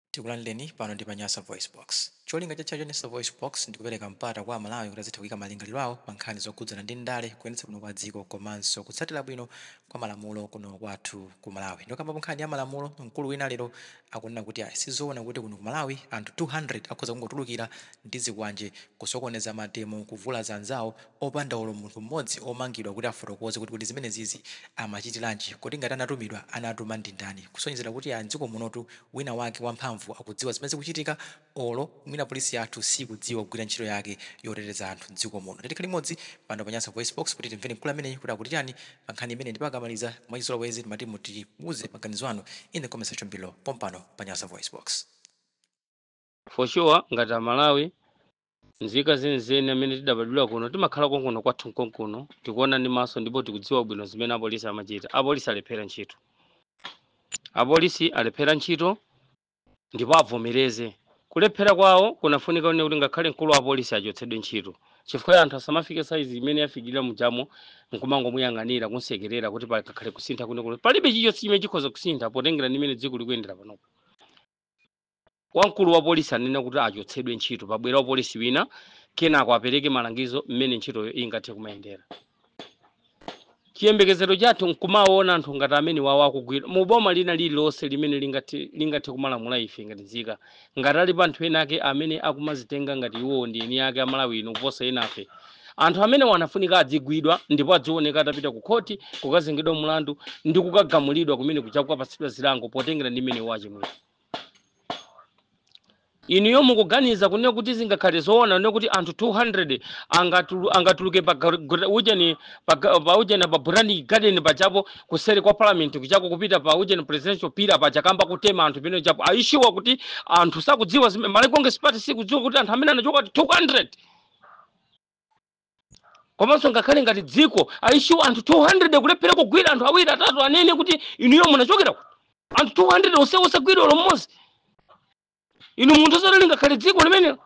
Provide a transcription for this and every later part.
Tikulandireni pano ndi pa Nyasa VoiceBox. Cholinga chathu cha Nyasa VoiceBox ndi kupereka mpata kwa Amalawi kuti azitha kuika malingaliro awo pa nkhani zokhudzana ndi ndale, kuyendetsa bwino kwa dziko komanso kutsatira bwino kwa malamulo kuno kwathu ku Malawi. Ndikambapo nkhani ya malamulo, mkulu wina lero akunena kuti ayi sizoona kuti kuno ku Malawi anthu 200 akhoza kungotulukira ndi zikwanje kusokoneza mademo, kuvulaza anzawo, opanda olo munthu mmodzi omangidwa kuti afotokoze kuti kodi zimenezizi amachitiranji, kodi ngati anatumidwa anatuma ndindani, kusonyezera kuti ya mdziko munotu wina wake wamphamvu akudziwa zimene zikuchitika olo mwina police yathu sikudziwa kugwira ntchito yake yoteteza anthu mdziko muno. Tikhale limodzi pano pa Nyasa VoiceBox kuti timvere mkulu ameneyu kuti akuti chani pa nkhani imeneyi ndipo akamaliza mwachizolowezi timati mutiuze maganizo anu in the comment section below pompano pa Nyasa VoiceBox. for sure ngati amalawi nzika zenizeni amene tidabadwira kuno timakhala konkuno kwathu nkonkuno tikuona ndi maso ndipo tikudziwa bwino zimene apolisi amachita apolisi alephera ntchito apolisi alephera ntchito ndipo avomereze kulephera kwawo kunafunika kuti ngakhale mkulu wa apolisi achotsedwe ntchito chifukwa anthu asamafike saizi imene yafikira mujamo nkumangomuyang'anira kumsekerera kuti pakakhale kusintha kuno palibe chilichonse chimene chikhoza kusintha potengera ndi mmene dziko likuyendera panopo Wamkulu wa polisi anafunika kuti achotsedwe ntchito, pabwere wapolisi wina, kenako apereke malangizo mmene ntchitoyo ingathe kumayendera. Chiyembekezero chathu n'kumawaona anthu ngati amenewawa akugwidwa. Mu boma lina lililonse limene lingathe, lingathe kumalamula ife ngati nzika. Ngati alipo anthu enaake amene akumazitenga ngati iwowo ndi eni ake a Malawi ino kuposa enafe, Anthu amenewa anafunika adzigwidwa ndipo adzioneka atapita ku khoti kukazengedwa mlandu ndi kukagamulidwa kumene kuja kukapatsidwa zilango potengera ndi mmene iwo achimwira. Inuyo mukuganiza kunena kuti zingakhale zoona kunena kuti anthu 200 angatulu, angatuluke pa gar- gra- ujeni pa ga- pa ujeni apa Botanic Garden pajapo kuseri kwa Parliament kuchako kupita pa ujeni presidential pillar paja kuyamba kutema anthu pompajapo. Are you sure kuti anthu sakudziwa zimene Malawi Congress Party sikudziwa kuti anthu amene anachoka kuti 200 komanso ngakhale ngati dziko are you sure anthu 200 kulephera kugwira anthu awiri atatu anene kuti inuyo munachokera kuti anthu 200 onse osagwira olo mmodzi mwa anthu zoti lingakhale dziko limenelo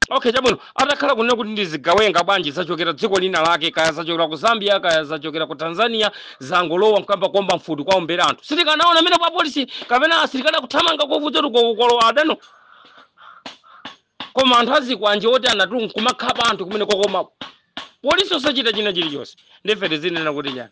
okay chabwino atakhala kunena kuti ndi zigawenga bwanji zachokera dziko lina lake kaya zachokera ku zambia kaya zachokera ku tanzania zangolowa nkuyamba kuomba mfuti kuwaombera anthu sitikanaona mwina apolisi kapena asilikali akuthamanga kwavutatu kwalowa adano koma anthu azikwanje otidyanatu nkumakhapa anthu kumene kuja koma polisi osachita china chilichonse ndiye ife tizinena kuti chani